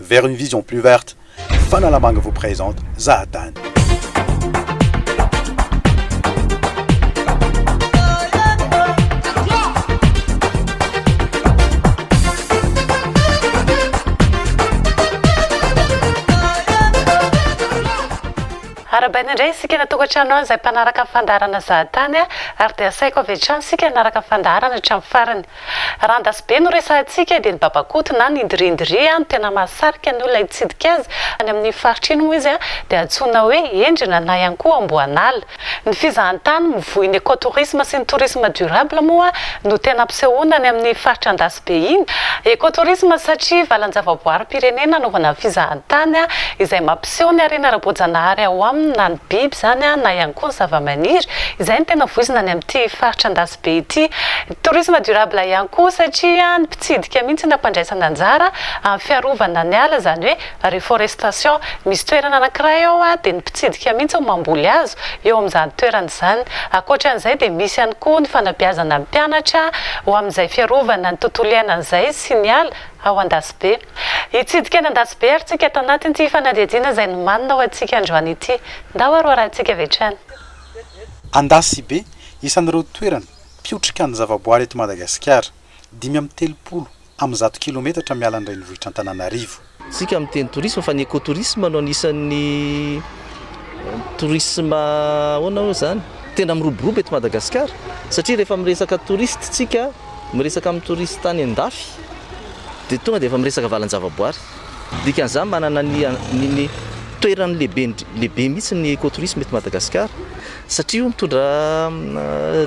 Vers une vision plus verte, Fanalamanga vous présente Zahatany. Arahabaina indray isika any an-tokantrano any izay mpanaraka ny fandaharana Zahatany ary dia asaiko avy hatrany isika hanaraka ny fandaharana hatramin'ny farany. Raha an-dasibe no resahantsika dia ny babakoto na ny ndrindri no tena mahasarika ny olona hitsidika azy. Any amin'iny faritra iny moa izy dia antsoina hoe endrina na ihany koa amboan'ala. Ny fizahantany mivoy ny ecotourisme sy ny tourisme durable moa no tena ampisehoana any amin'ny faritra an-dasibe iny. Ecotourisme satria valan-javaboarim-pirenena anaovana fizahantany izay mampiseho ny harena ara-boajanahary ao aminy na ny biby izany na ihany koa ny zavamaniry izay no tena voizina any amin'ity faritra be ity. Tourisme durable ihany koa satria ny mpitsidika mihitsy no ampandraisana anjara amin'ny fiarovana ny ala izany hoe reforestation. Misy toerana anankiray ao dia ny mpitsidika mihitsy no mamboly hazo eo amin'izany toerana izany. Ankoatran'izay dia misy ihany koa ny fanabeazana ny mpianatra ho amin'izay fiarovana ny tontolo iainana izay sy ny ala ao Andasibe. Hitsidika any Andasibe ary tsika tao anatin'ity fanadihadiana izay nomanina ho antsika androany ity. Ndao aroarahantsika avy hatrany. Andasibe, isan'ireo toerana mpiotrika ny zavaboary eto Madagasikara, dimy amby telopolo amin'ny zato kilometatra miala ny renivohitr'Antananarivo. Isika miteny tourisme fa ny ecotourisme no anisan'ny tourisme ahoana oe zany? tena miroborobo eto Madagasikara satria rehefa miresaka touriste tsika miresaka amin'ny touriste any an-dafy dia tonga dia efa miresaka valan-javaboary. Dikan'izany manana ny ny toerany lehibe lehibe mihitsy ny ecotourisme eto Madagasikara satria io mitondra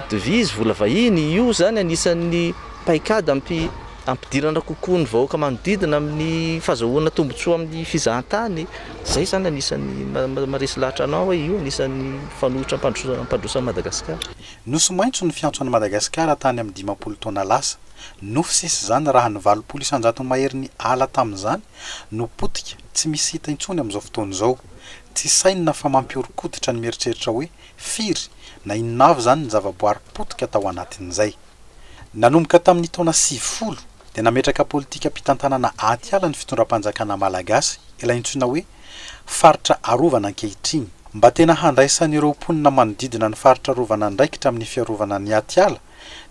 devise, vola vahiny, io izany anisan'ny paikady ampi- ampidirana kokoa ny vahoaka manodidina amin'ny fazahoana tombotsoa amin'ny fizahantany, izay izany anisan'ny ma- maharesy lahatra anao hoe io anisan'ny fanoitra ampandroso- ampandroso an'i Madagasikara. Nosy maitso ny fiantso an'i Madagasikara tany amin'ny dimampolo taona lasa. Nofy sisa izany raha ny valopolo isan-jatony maherin'ny ala tamin'izany no potika tsy misy hita intsony amin'izao fotoana izao. Tsy sainina fa mampihoron-koditra ny mieritreritra hoe firy na inona avy izany ny zavaboary potika tao anatin'izay. Nanomboka tamin'ny taona sivifolo dia nametraka politikam-pitantanana atiala ny fitondram-panjakana malagasy ilay antsoina hoe faritra arovana ankehitriny. Mba tena handraisan'ireo mponina manodidina ny faritra arovana andraikitra amin'ny fiarovana ny atiala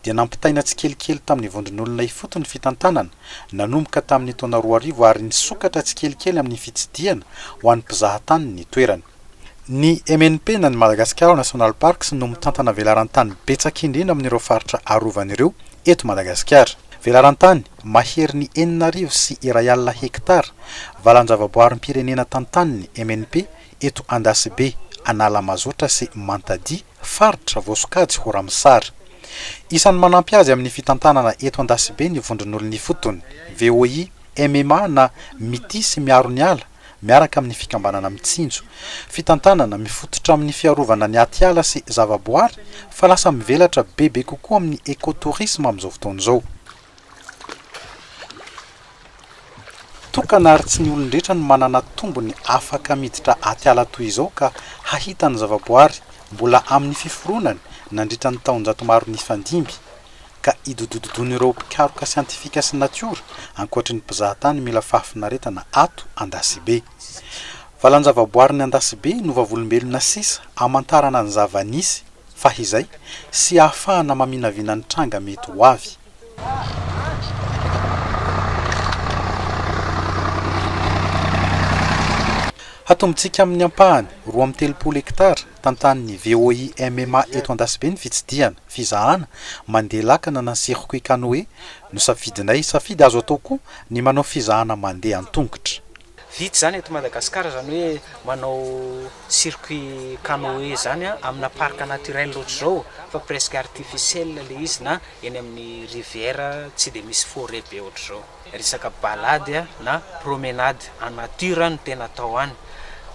dia nampitaina tsikelikely tamin'ny vondron'olona ifotony ny fitantanana, nanomboka tamin'ny taona roa arivo ary nisokatra tsikelikely amin'ny fitsidihana ho an'ny mpizaha tany ny toerany. Ny MNP na ny Madagascar National Parks no mitantana velaran-tany betsaka indrindra amin'ireo faritra arovana ireo eto Madagasikara. Velaran-tany maherin'ny enina arivo sy iray alina hektara valan-javaboarim-pirenena tantanin'ny MNP eto Andasibe, Analamazotra sy Mantadia, faritra voasokajy ho Ramosary. Isan'ny manampy azy amin'ny fitantanana eto Andasibe ny vondron'olona ifotony, VOI, MMA na Mitia sy Miaro ny Ala miaraka amin'ny fikambanana Mitsinjo, fitantanana mifototra amin'ny fiarovana ny atiala sy zavaboary fa lasa mivelatra bebe kokoa amin'ny écotourisme amin'izao fotoana izao. Tokana ary tsy ny olon-drehetra no manana tombony afaka miditra atiala toy izao ka hahita ny zavaboary mbola amin'ny fiforonany nandritra ny taonjato maro nifandimby ka idodododoin'ireo mpikaroka siantifika sy natiora ankoatry ny mpizahatany mila fahafinaretana ato Andasibe. Valanjavaboarin'i Andasibe no vavolombelona sisa amantarana ny zava-nisy fahizay sy ahafahana maminavina ny tranga mety ho avy. Hatombontsika amin'ny ampahany roa amby telopolo hektara tantanin'ny VOI MMA eto Andasibe ny fitsidihana, fizahana, mandeha lakana na circuit canoë no safidinay. Safidy azo atao koa ny manao fizahana mandeha an-tongotra. Vita izany eto Madagasikara, izany hoe manao circuit canoe zany amina parc naturel ohatr'izao fa presque artificiel ilay izy na eny amin'ny rivière tsy dia misy forêt be ohatr'izao. Resaka balade na promenade en nature no tena atao any.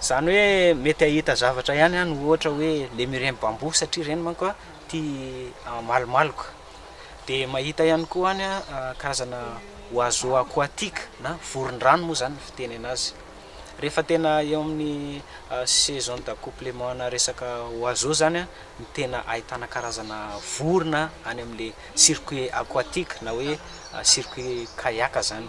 Izany hoe mety hahita zavatra ihany any ohatra hoe lemurin bambou satria ireny manko tia malomaloka. Dia mahita ihany koa any karazana oiseaux aquatiques na voron-drano moa izany ny fitenena azy. Rehefa tena eo amin'ny saison d'accouplement-na resaka oiseaux izany no tena ahitana karazana vorona any amin'ilay circuit aquatique na hoe circuit kayak izany.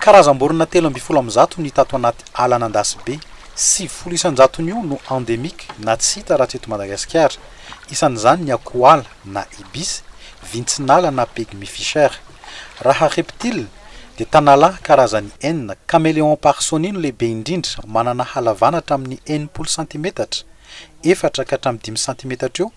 Karazam-borona telo ambin'ny folo amin'ny zato no hita ato anaty ala an'Andasibe. Sivifolo isan-jaton'io no endémique na tsy hita raha tsy eto Madagasikara. Isan'izany ny akohoala na ibis, vintsin'ala na pygmy fisher. Raha reptiles dia tanala karazany enina, Caméléon parsonie no lehibe indrindra, manana halavana hatramin'ny enimpolo santimetatra, efatra ka hatramin'ny dimy santimetatra eo,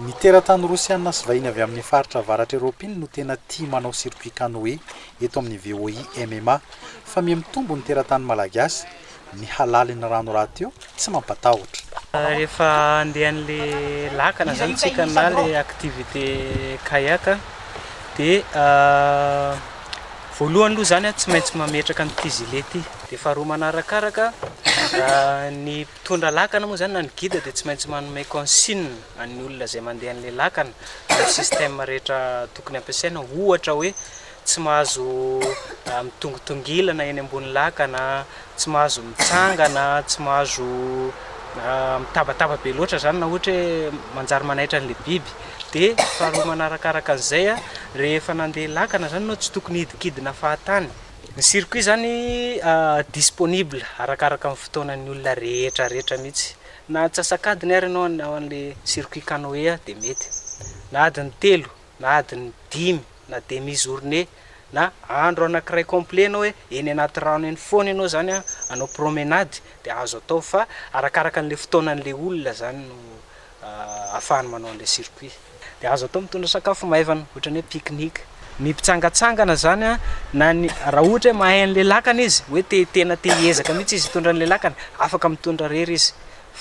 Ny teratany rosiana sy vahiny avy amin'ny faritra avaratra eropiana no tena tia manao circuit canoe eto amin'ny VOI MMA. Fa miha mitombo ny teratany malagasy. Ny halalin'ny rano rahateo tsy mampatahotra. Rehefa handeha an'le lakana izany isika na le activité kayak dia Voalohany aloha izany a, tsy maintsy mametraka an'ity gilet ity. Dia faharoa manarakaraka, ny mpitondra lakana moa izany na ny guide dia tsy maintsy manome consigne an'ny olona izay mandeha an'ilay lakana ny système rehetra tokony hampiasaina. Ohatra hoe tsy mahazo mitongitongilana eny ambony lakana. tsy mahazo mitsangana, tsy mahazo mitabataba be loatra izany na ohatra hoe manjary manaitra an'ilay biby. Dia faharoa manarakaraka an'izay, rehefa nandeha lakana izany ianao tsy tokony hidikidina fahatany. Ny circuit izany disponible arakaraka ny fotoanan'ny olona rehetra rehetra mihitsy. Na antsasak'adiny ary ianao hanao an'ilay circuit canoe dia mety, na adiny telo. na adiny dimy na demi journée na andro anakiray complet enao hoe eny anaty rano eny foana enao zany an anao promenade dia azo atao fa arakaraka anle fotoana anle olona zany no afahany manao anle circuit dia azo atao mitondra sakafo maivana otrany hoe pique-nique ny mpitsangatsangana zany an na ny raha ohatra hoe mahay anle lakana izy hoe te tena te hiezaka mihitsy izy hitondra anle lakana afaka mitondra rery izy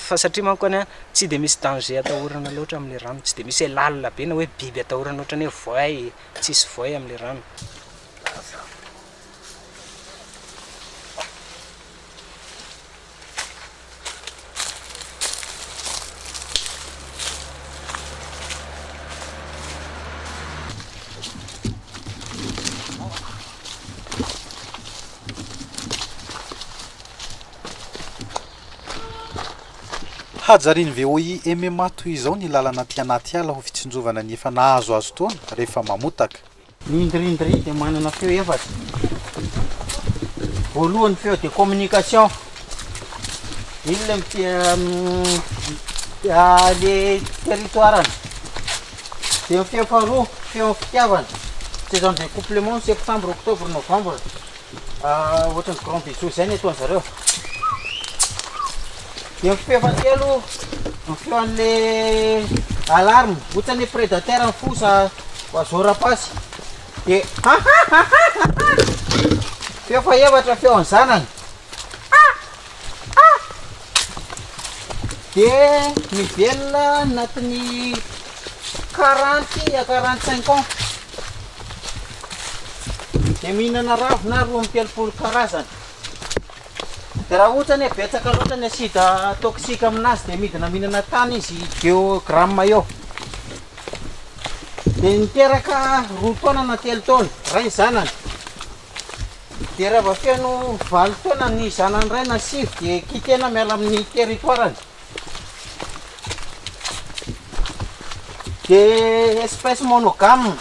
Fa satria manko any an, tsy dia misy danger atahorana loatra amin'ilay rano, tsy dia misy hoe lalina be na hoe biby atahorana ohatran'ny hoe voay, tsisy voay amin'ilay rano. Hajarian'ny VOI MMA toy izao ny lalana aty anaty ala ho fitsinjovana ny efa nahazoazo taona rehefa mamotaka. Ny ndry ndry dia manana feo efatra. Voalohany ny feo dia communication. Iny ilay miteny ilay territoire-ny. Dia ny feo faharoa, feon'ny fitiavana. Tsy izany dia couplement ny septembre, octobre, novembre. Ohatran'ny grand bijou izay ny ataon-dry zareo. Dia ny feo fahatelo ny feo an'ilay alarme, ohatran'ny hoe prédateur ny foza oiseau rapace. Dia feo fahaefatra ny feo an'ny zanany. dia mivelona anatin'ny quarante à quarante cinq ans dia mihinana ravina roa amby telopolo karazana dia raha ohatra ny betsaka loatra ny asida toxique aminazy dia midina mihinana tany izy deo gramme eo dia niteraka roa taona na telo taona ray zanany dia raha vao feno valo taona ny zanany iray na sivy dia kitihana miala amin'ny territoire-ny. Dia espèce monogame.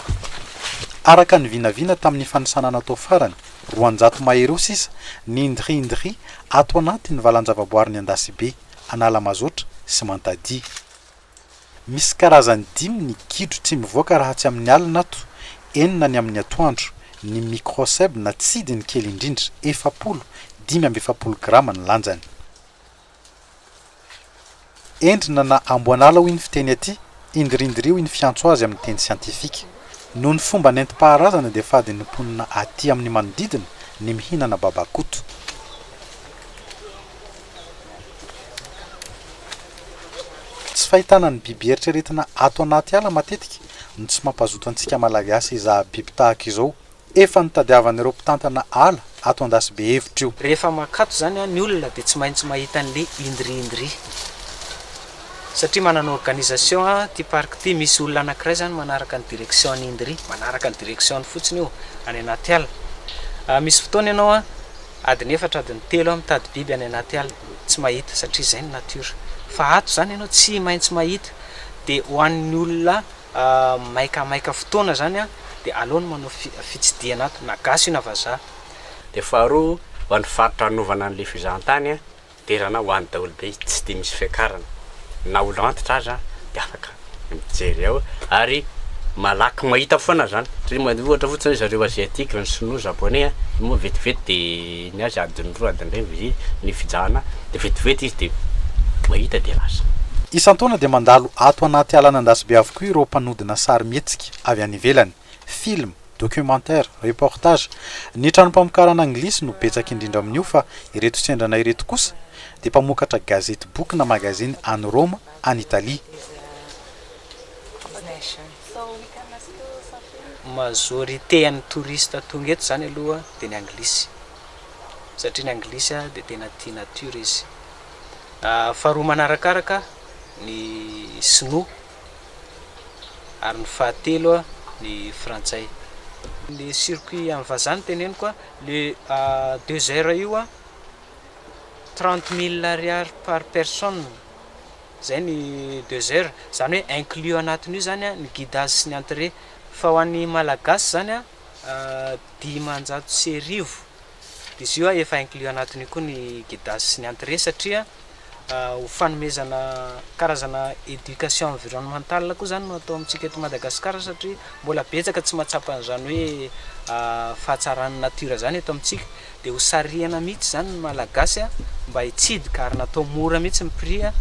Araka ny vinavina tamin'ny fanisana natao farany, roanjato mahery eo sisa ny ndri-ndri ato anatin'ny valan-javaboarin'i Andasibe, Analamazotra sy Mantadia. Misy karazany dimy ny gidro tsy mivoaka raha tsy amin'ny alina ato, enina ny amin'ny atoandro. Ny microcèbe na tsidy ny kely indrindra, efapolo, dimy amby efapolo grama ny lanjany. Endrina na amboan'ala hoy ny fiteny aty, Indirindiri hoy ny fiantso azy amin'ny teny siantifika. Noho ny fomba nentim-paharazana dia fadin'ny mponina aty amin'ny manodidina ny mihinana babakoto. Tsy fahitana ny biby eritreretina ato anaty ala matetika no tsy mampazoto antsika Malagasy hizaha biby tahaka izao. Efa notadiavan'ireo mpitantana ala ato Andasibe hevitra io. Rehefa mankato izany ny olona dia tsy maintsy mahita an'ilay indri indri satria manana organisation ity parc ity, misy olona anankiray izany manaraka ny direction an'i indri, manaraka ny direction-ny fotsiny io any anaty ala. Misy fotoana ianao. Adiny efatra adiny telo aho mitady biby any anaty ala, tsy mahita satria izay ny natiora. Fa ato izany ianao tsy maintsy mahita. Dia ho an'ny olona maika maika fotoana izany an, dia aleo ny manao fitsidihana ato, na gasy io na vazaha. Dia faharoa, ho an'ny faritra hanovana an'ilay fizahantany an, Derana ho any daholo be izy tsy dia misy fiakarana na olo antitra aza dia afaka mijery ao ary malaky mahita foana zany satria mande ohatra fotsiny hoe zareo asiatique ny sinoa japonais a io moa vetivety dia ny azy adiny roa adiny iray vao zay ny fijahana dia vetivety izy dia mahita dia lasa. Isan-taona dia mandalo ato anaty alan'Andasibe avokoa ireo mpanodina sarimihetsika avy any ivelany. film, documentaire, reportage. Ny tranom-pamokarana anglisy no betsaka indrindra amin'io fa ireto sendra anay ireto kosa dia mpamokatra gazety boky na magazine any Roma, any Italie. Majorité an'ny touristes tonga eto izany aloha dia ny anglisy satria ny anglisy dia tena tia nature izy. Faharoa manarakaraka ny sinoa ary ny fahatelo ny frantsay. Le circuit an'ny vazaha no teneniko a, le deux heures io a, trente mille ariary par personne, zay ny deux heures, zany hoe inclus anatin'io zany a ny guidage sy ny entrée, fa ho an'ny Malagasy zany a dimanjato sy arivo. Izy io efa inclus anatin'io koa ny Gedas sy ny Entrée satria ho fanomezana karazana éducation environnementale koa izany no atao amintsika eto Madagascar satria mbola betsaka tsy mahatsapa an'izany hoe fahatsaran'ny natiora izany eto amintsika dia ho sarihana mihitsy izany ny Malagasy mba hitsidika ary natao mora mihitsy ny prix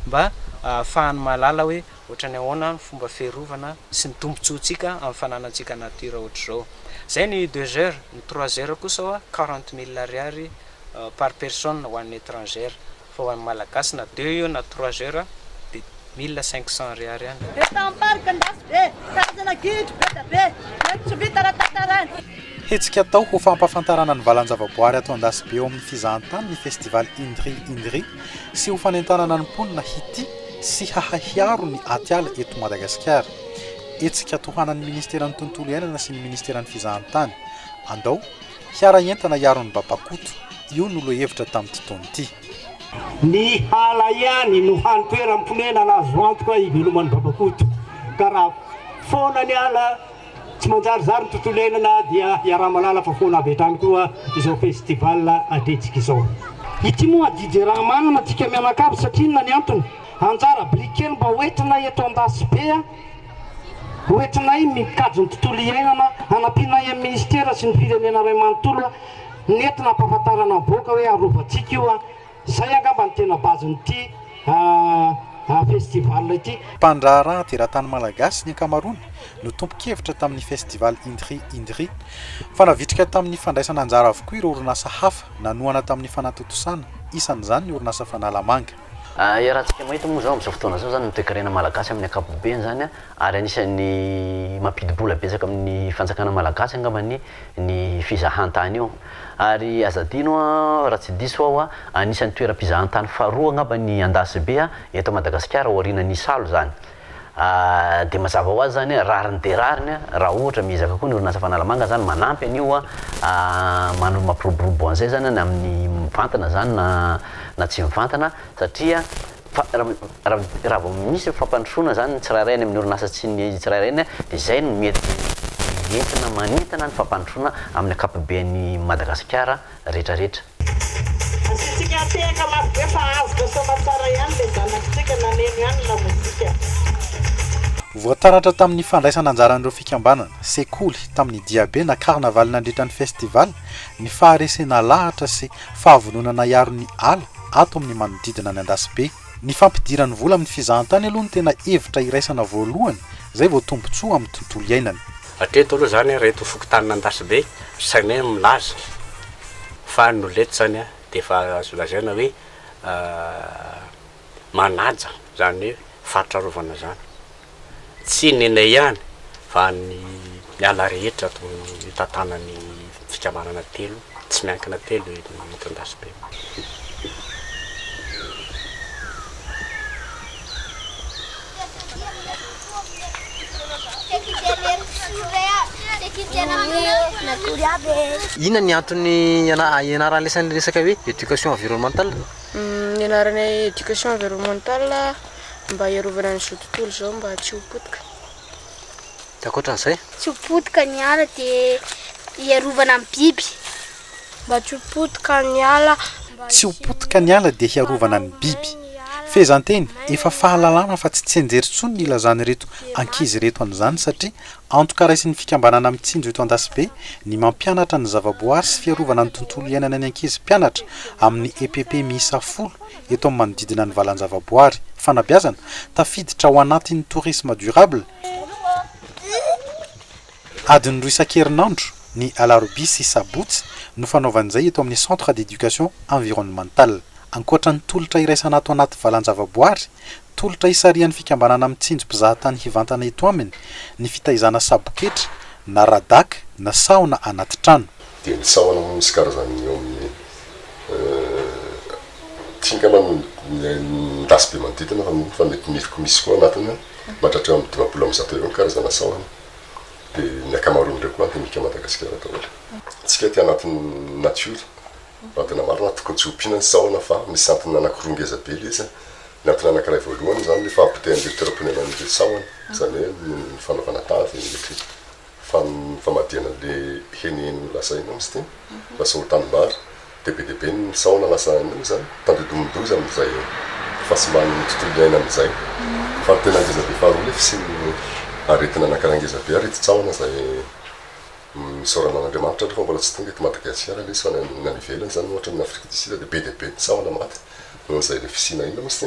mba ahafahan'ny mahalala hoe Ohatran'ny ahoana ny fomba fiarovana sy ny tombontsoantsika amin'ny fananantsika nature ohatr'izao. Izay ny deux heures, ny trois heures kosa hoa quarante mille ariary par personne ho an'ny etrangère. Fa ho an'ny Malagasy na deux io na trois heures dia mille cinq cents ariary ihany. Betam-parika an-dasy be, karazana gidro be dia be, mety tsy vita raha tantaraina. Hetsika atao ho fampahafantarana ny valan-javaboary ato Andasibe ao amin'ny fizahantany ny Festival Indri Indri. sy ho fanentanana ny mponina hitia sy hahay hiaro ny atiala eto Madagasikara. Hetsika tohanan'ny Ministeran'ny Tontolo Iainana sy ny Ministeran'ny Fizahantany. Andao, hiara entana hiaro ny babakoto, io no lohahevitra tamin'ity taona ity. Ny ala ihany no hany toeram-ponenana azo antoka hiveloman'ny babakoto ka raha foana ny ala Tsy manjarizary ny tontolo iainana dia iaraha-malalaka foana avy hatrany koa izao festival adretsika izao. Ity moa DJ Rahamanana antsika mianakavy satria inona ny antony? Anjara biriky kely mba ho entinay eto Andasibe a! Ho entinay mikajy ny tontolo iainana, hanampianay amin'ny Minisitera sy ny Firenena iray manontolo a! Nety nampahafantarana ny vahoaka hoe arovantsika io a! Izay angamba no tena base-n'ity festival ity. Mpandraharaha teratany malagasy ny ankamaroany no tompon-kevitra tamin'ny Festival Indri Indri. Fa navitrika tamin'ny fandraisana anjara avokoa ireo orinasa hafa nanohana tamin'ny fanatontosana, isan'izany ny orinasa Fanalamanga. Iarahantsika mahita moa izao amin'izao fotoana izao izany ny toekarena malagasy amin'ny ankapobeny izany ary anisan'ny mampidi-bola betsaka amin'ny fanjakana malagasy angamba ny ny fizahantany io. Ary aza adino an, raha tsy diso aho an, anisan'ny toeram-pizahantany faharoa angamba ny Andasibe an, eto Madagasikara aorianan'ny Isalo izany. Dia mazava ho azy izany hoe rariny dia rariny an, raha ohatra miezaka koa ny orinasa Fanalamanga izany manampy an'io an, manoro mampiroborobo an'izay izany an, na amin'ny mivantana izany na na tsy mivantana satria Fa raha vao misy ny fampandrosoana izany ny tsirairay any amin'ny orinasa tsy ny tsirairay ny dia izay no mety entina manentana ny fampandrosoana amin'ny ankapoben'i Madagasikara retraretra. Asiantsika hatehaka mafy be fa avotra sy aman-tsara ihany ilay zanakintsika na neno ihany ny lamozika. Voataratra tamin'ny fandraisana anjaran'ireo fikambanana, sekoly, tamin'ny diabe na carnaval nandritra ny festival, ny faharesena lahatra sy fahavononana hiaro ny ala, ato amin'ny manodidina ny Andasibe. Ny fampidirany vola amin'ny fizahantany aloha no tena hevitra iraisana voalohany, izay vao tombontsoa amin'ny tontolo iainany. Hatreto aloha izany ireto fokontanin'Andasibe sainay no milaza fa ny olona eto izany dia efa azo lazaina hoe manaja izany hoe faritra arovana izany. Tsy ny Ney ihany fa ny ala rehetra ato amin'ny mitantanan'ny fikambanana telo tsy miankina telo eny Tondasibe. Inona ny antony ianaran'ny lesy an'ilay resaka hoe éducation environnementale? Ny anaranay éducation environnementale. mba hiarovana an'izao tontolo izao mba tsy ho potika. Dia ankoatran'izay? Tsy ho potika ny ala dia hiarovana ny biby. Mba tsy ho potika ny ala mba Tsy ho potika ny ala dia hiarovana ny biby. Fehezanteny, efa fahalalana fa tsy tsianjery intsony ny ilazan'ireto ankizy ireto an'izany satria antoka raisin'ny fikambanana mitsinjo eto Andasibe ny mampianatra ny zavaboary sy fiarovana ny tontolo iainana ny ankizy mpianatra amin'ny EPP miisa folo eto amin'ny manodidina ny valan-javaboary, fanabeazana, tafiditra ao anatin'ny tourisme durable, adiny roa isan-kerinandro, ny alarobia sy sabotsy, no fanaovana izay eto amin'ny Centre d'Education Environnementale. Ankoatra ny tolotra iraisana ato anaty valan-javaboary, tolotra isarihan'ny fikambanana mitsinjo mpizahatany hivantana eto aminy ny fitaizana saboketra na radaka na sahona anaty trano. Dia ny sahona moa misy karazany eo amin'ny tsy angamba ny midasy be manodidina fa fa mety mifiko misy koa anatiny mahatratra eo amin'ny dimampolo amin'ny zato eo ny karazana sahona. Dia ny ankamaroan'ireo koa endemika Madagasikara daholo. Isika aty anatin'ny natiora, adina marina, tokony tsy ompiana ny sahona fa misy antony anankiroa ngeza be ilay izy. Ny antony anankiray voalohany izany ny fahapotehan'ireo toeram-ponenan'ireo sahona, izany hoe ny fanaovana tavy, ny mety. Fa ny famadihana anle heniheny lazainao msty lasa ho tanimbary de be dia be ny sahona lasa anio zany tandindomin-doza amin'izay fahasimbàn'ny tontolo iainana izay fa ny tena ngezabe faharoa ny fisian'ny aretina anankiray ngezabe ary ity tsahona izay misaorana an'Andriamanitra aloha fa mbola tsy tonga eto Madagasiara lesy fa ny any ivelany zany ohatra ny Afrique du Sud de be dia be ny sahona maty nohon'izay le fisiana ina msty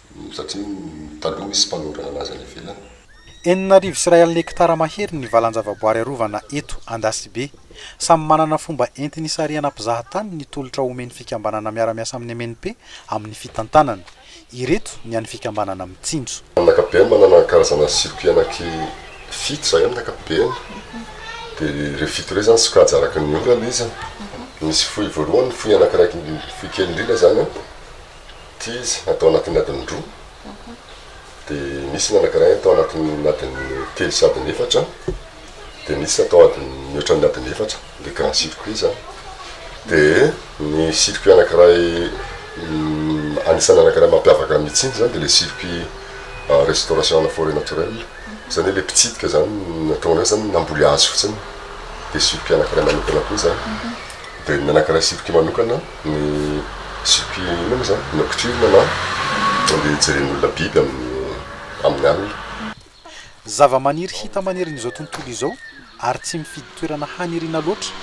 Satria taloha misy mpanao raha nazy any ivelany. Enina arivo sy iray alina hektara mahery ny valan-javaboary arovana eto Andasibe. Samy manana fomba entiny hisarihana mpizaha tany ny tolotra omen'ny fikambanana miara-miasa amin'ny MNP amin'ny fitantanana. Ireto ny an'ny fikambanana Mitsinjo. Amin'ny ankapobeny manana karazana circuit anaky fito izahay amin'ny ankapobeny. Dia ireo fito ireo izany sokajy araka ny orana izy. Misy fohy voalohany, fohy anakiraiky, fohy kely indrindra izany an. Ity izy atao anatin'ny adiny roa, dia misy ny anankiray atao anatin'ny adiny telo sy adiny efatra, dia misy atao adiny mihoatra ny adiny efatra, le grand circuit izany. Dia ny circuit anankiray anisan'ny anankiray mampiavaka an'i Mitsinjo izany dia le circuit restauration ana forêt naturelle, izany hoe le mpitsidika izany ny ataonay izany namboly hazo fotsiny, dia circuit anankiray manokana koa izany. Dia ny anankiray circuit manokana. Ny jupe inona moa zany? Nocturne na andeha hijerena olona biby amin'ny amin'ny alina. Zavamaniry hita manerin'izao tontolo izao ary tsy mifidy toerana haniriana loatra,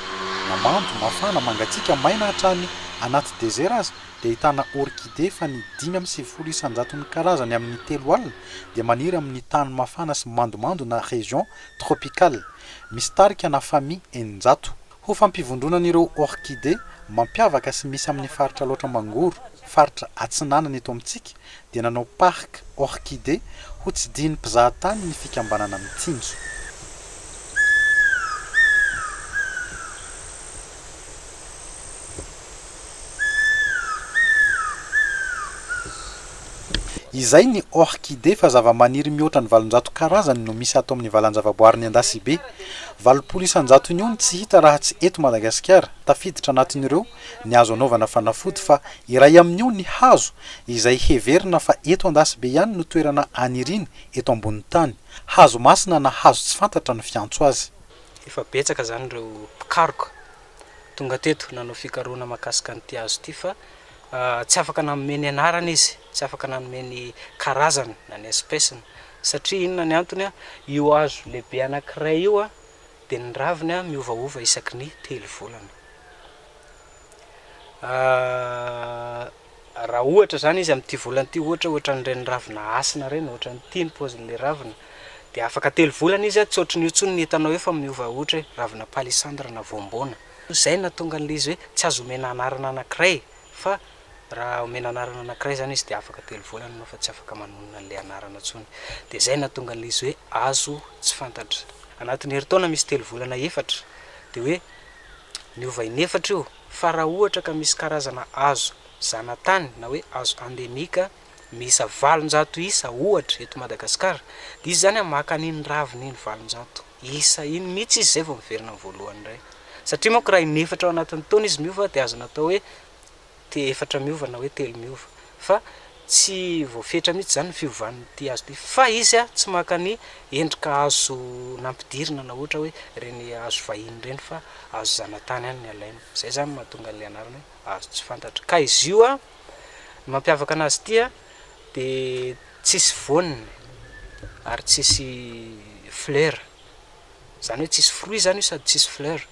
na mando, mafana, mangatsiaka, maina hatrany anaty desert aza dia ahitana orchidée fa ny dimy amby sivifolo isanjaton'ny karazany amin'ny telo alina dia maniry amin'ny tany mafana sy mandomando na région tropicale misy tarika na famille eninjato Ho fampivondronan'ireo orchidées mampiavaka sy misy amin'ny faritra Alaotra Mangoro, faritra Atsinanana eto amintsika, dia nanao parc orchidées hotsidihin'ny mpizahatany ny fikambanana Mitsinjo. Izay ny orchidée fa zavamaniry mihoatra ny valonjato karazany no misy ato amin'ny valanjavaboarin'i Andasibe. Valopolo isanjatony eo no tsy hita raha tsy eto Madagasikara. Tafiditra anatin'ireo ny hazo anaovana fanafody fa iray amin'io ny hazo izay heverina fa eto Andasibe ihany no toerana aniriany eto ambonin'ny tany. Hazo masina na hazo tsy fantatra no fiantso azy. Efa betsaka izany ireo mpikaroka tonga teto nanao fikarohana mahakasika an'ity hazo ity fa tsy afaka nanome ny anarany izy, tsy afaka nanome ny karazany na ny espèce-ny satria inona ny antony, io hazo lehibe anankiray io dia ny raviny miovaova isaky ny telo volana. Raha ohatra izany izy amin'ity volana ity ohatra hoe ohatran'ireny ravina hasina ireny, ohatran'ity ny paozin'ilay ravina, dia afaka telo volana izy tsy ohatran'io intsony no hitanao eo fa miova ohatra hoe ravina palissandre na voamboana. Izay no nahatonga an'ilay izy hoe tsy azo omena anarana anankiray fa raha omena anarana anankiray izany izy dia afaka telo volana ianao fa tsy afaka manonona an'ilay anarana intsony. Dia izay no nahatonga an'ilay izy hoe azo tsy fantatra. Anatin'ny herintaona misy telo volana efatra dia hoe miova inefatra io. fa raha ohatra ka misy karazana hazo zanatany na hoe hazo endemique miisa valonjato isa ohatra eto Madagasikara dia izy izany maka an'iny ravina iny valonjato isa iny mihitsy izy izay vao miverina ny voalohany indray satria manko raha in'efatra ao anatin'ny taona izy miova dia azo natao hoe te-efatra miova na hoe telo miova fa Tsy voafetra mihitsy izany ny fiovan'ity hazo ity fa izy tsy maka ny endrika hazo nampidirina na ohatra hoe ireny hazo vahiny ireny fa hazo zanatany ihany ny alainy. Izay izany no mahatonga an'ilay anarana hoe hazo tsy fantatra. Ka izy io, ny mampiavaka anazy ity dia tsisy voany ary tsisy fleurs. Izany hoe tsisy fruits izany io sady tsisy fleurs.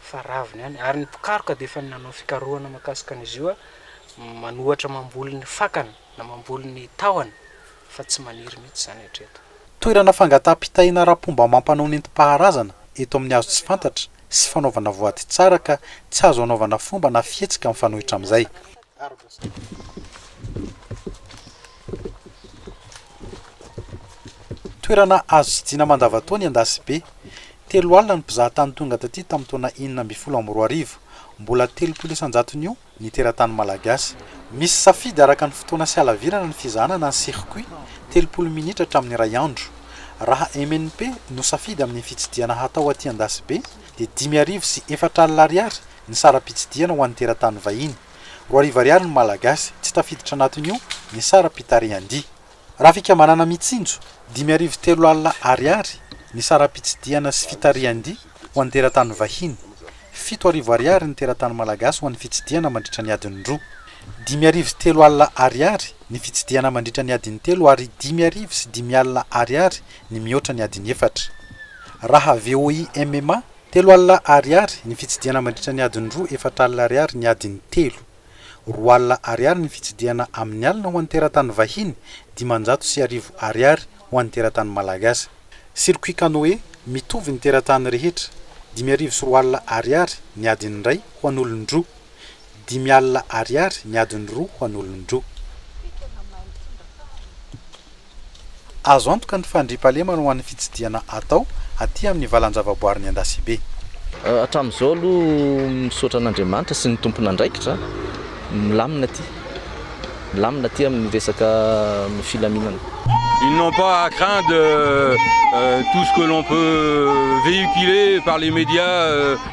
fa ravina ihany, ary ny mpikaroka dia efa nanao fikarohana makasika an'izy io, manohatra mamboly ny fakany na mamboly ny tahony fa tsy maniry mihitsy izany hatreto. Toerana fangataham-pitahiana ara-pomba amam-panao nentim-paharazana eto amin'ny hazo tsy fantatra sy fanaovana voady tsara ka tsy azo anaovana fomba na fihetsika mifanohitra amin'izay. Toerana azo tsidihina mandavantaona i Andasibe. Telo alina ny mpizaha tany tonga taty tamin'ny taona enina ambin'ny folo amby roa arivo. Mbola telopolo isan-jatony io ny teratany malagasy. Misy safidy araka ny fotoana sy halavirana ny fizahana na ny circuit, telopolo minitra hatramin'ny iray andro. Raha MNP no safidy amin'ny fitsidihana hatao aty Andasibe dia dimy arivo sy efatra alina ariary ny saram-pitsidihana ho an'ny teratany vahiny. Roa arivo ariary ny Malagasy, tsy tafiditra anatin'io ny saram-pitarihan-dia. Raha fikambanana Mitsinjo, dimy arivo telo alina ariary ny saram-pitsidihana sy fitarihan-dia ho an'ny teratany vahiny. Fito arivo ariary ny teratany Malagasy ho an'ny fitsidihana mandritra ny adiny roa. Dimy arivo telo alina ariary ny fitsidihana mandritra ny adiny telo ary dimy arivo sy dimy alina ariary ny mihoatra ny adiny efatra. Raha VOIMMA, Telo alina Ariary ny fitsidihana mandritra ny adiny roa Efatra alina Ariary ny adiny telo Roa alina Ariary ny fitsidihana amin'ny alina ho an'ny teratany vahiny Dimanjato sy arivo Ariary ho an'ny teratany malagasy Circuit canoë mitovy ny teratany rehetra Dimy arivo sy roa alina Ariary ny adiny iray ho an'olon-droa Dimy alina Ariary ny adiny roa ho an'olon-droa. Azo antoka ny fandriampahalemana ho an'ny fitsidihana atao aty amin'ny valan-javaboarin'i Andasibe. Hatramin'izao aloha misaotra an'Andriamanitra sy ny tompon'andraikitra, milamina aty. Milamina aty amin'ny resaka filaminana. Ils n'ont pas à craindre tout ce que l'on peut véhiculer par les médias.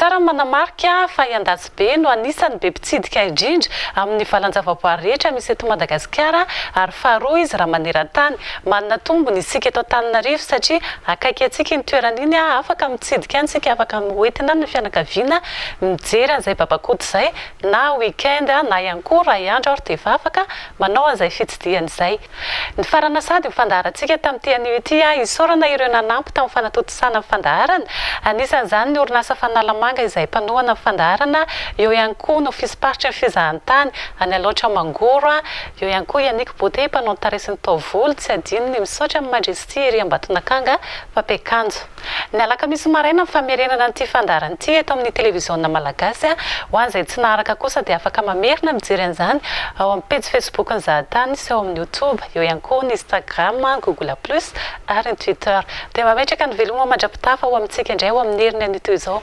Tsara ny manamarika fa i Andatsibe no anisan'ny be mpitsidika indrindra amin'ny valan-javaboary rehetra misy eto Madagasikara ary faharoa izy raha maneran-tany. Manana tombony isika eto Antananarivo satria akaiky antsika iny toerana iny, afaka mitsidika any isika, afaka mihoentina ny fianakaviana mijery an'izay babakoto izay na week-end na ihany koa iray andro ary dia efa afaka manao an'izay fitsidihana izay. Nifarana sahady ny fandaharantsika tamin'ity anio ity aho isaorana ireo nanampy tamin'ny fanatontosana ny fandaharana, anisan'izany ny orinasa Fanalamanga izay mpanohana ny fandaharana, eo ihany koa ny ofism-paritry ny fizahantany any Alaotra Mangoro, eo ihany koa i Annick Beauté mpanao ny tarehy sy ny taovolo, tsy adino ny misaotra an'i Majesty ery Ambatonakanga mpampiakanjo. Ny alakamisy maraina ny famerenana an'ity fandaharana ity eto amin'ny televiziona malagasy. Ho an'izay tsy naharaka kosa dia afaka mamerina mijery an'izany ao amin'ny pejy facebook-n'ny Zahatany sy ao amin'ny youtube, eo ihany koa ny instagram, google plus ary ny twitter. Dia mametraka ny veloma mandra-pitafa ho amintsika indray ao amin'ny heriny anio toy izao.